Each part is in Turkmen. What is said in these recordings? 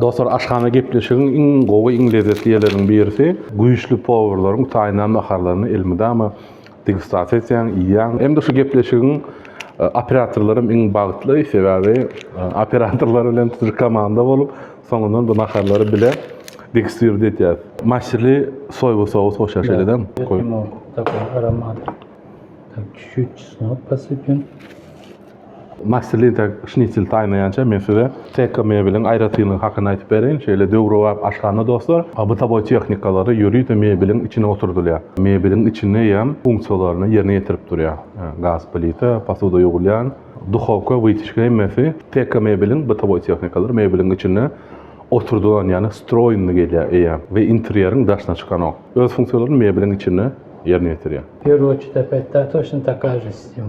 Dostlar aşhana gepleşigiň iň gowy iň lezzetli ýerleriniň birisi güýçli powurlaryň taýynlan naharlaryny elmydama degustasiýa etýäň iýýäň hem-de şu gepleşigiň operatorlarym iň bagtly sebäbi operatorlar bilen tutuş komanda bolup soňundan bu naharlary bile degustirt etýäs maşşili soýba sous goşýar şeýledem goý aromat çüçüt çesnok posypýan Master Linter Şnitsel taýynlaýança men size Teko mebeliň aýratynlygy hakynda aýdyp bereýin. Şeýle döwrebap aşhana dostlar, bytawoý tehnikalary ýörite mebeliň içine oturdylýar. Mebeliň içinde ýam funksiýalaryny ýerine ýetirip durýar. Gaz plita, posuda ýuwulýan, duhowka, wytyçka hemmesi Teko mebeliň bytawoý tehnikalary mebeliň içinde oturdylan ýagny stroýnny gelýär eýýäm we interýeriň daşyna çykanok. Öz funksiýalaryny mebeliň içinde ýerine ýetirýär. Peruçi-de Petta toçno takaje sistema.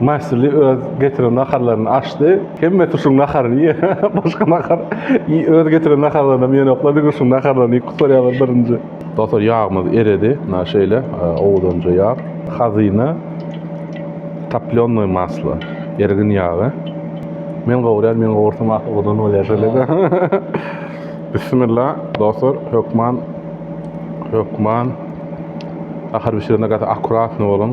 Maşly öz getiren naharlaryny açdy. Hemmesi şuň naharyny iýer. Başga nahar öz getiren naharlarynam ýenoklar, diňe şuň naharlaryny iýip gutarýarlar birinji. Dostlar ýagmyz eredi. Mna şeýle owudanja ýag. Hazyna toplýonnoý maslo, ergin ýagy. Men gowurýan, men gowursam ahy owadan bolýar şeýle-de. Bissimilla dostlar, hökman, hökman nahar bişirende gaty akkuratny boluň.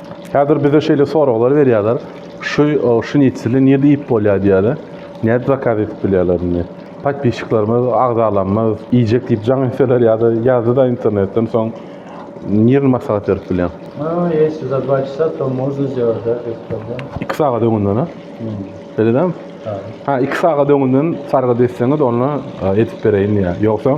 Häzir bize şeýle soraglar berýärler, şu şnitseli nirde iýip bolýar diýýärler, nädip zakaz edip bilýärler indi. Podpisçiklerimiz, agzalarymyz iýjek diýip jaň etseler ýa-da ýazdy-da internetden soň nirni maslahat berip bilýäň? Ha, ýesi za dva çasa to mozna zdelat da diýip durlar. Iki sagat öňünden-ä? Hmm. Beýle dälmi? Ha. Ha, iki sagat öňünden sargyt etseňiz onda edip bereýin diýýär. Ýogsa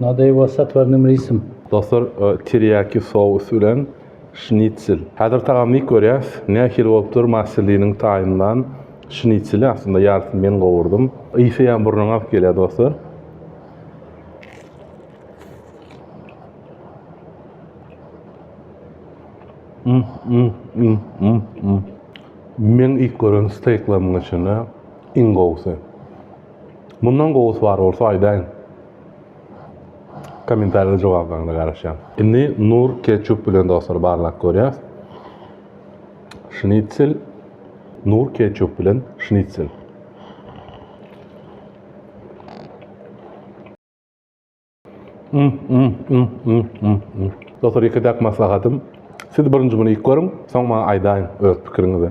Nadei was satwarnym risym. Dostlar tirýaki sous bilen şnitsel. Häzir tagamy dik görýäs. Nähili bolupdyr Massilliniň taýynlan şnitseli aslynda ýarysyny men gowurdym. Ysy ýa burnuňa agyp gelýär dostlar. Meň ilk gören steýklarymyň içinde iň gowusy. Mundan gowusy bar bolsa aýdaýyň. Kommentariýada jogablaryňyza garaşýan. Indi Nur ketçup bilen dostlar barlap görýäs. Şnitsel Nur ketçup bilen şnitsel. Dostlar, iki dek maslahatym. Siz birinji bunu ilk görün, soň maňa aýdaýyň öz pikiriňizi.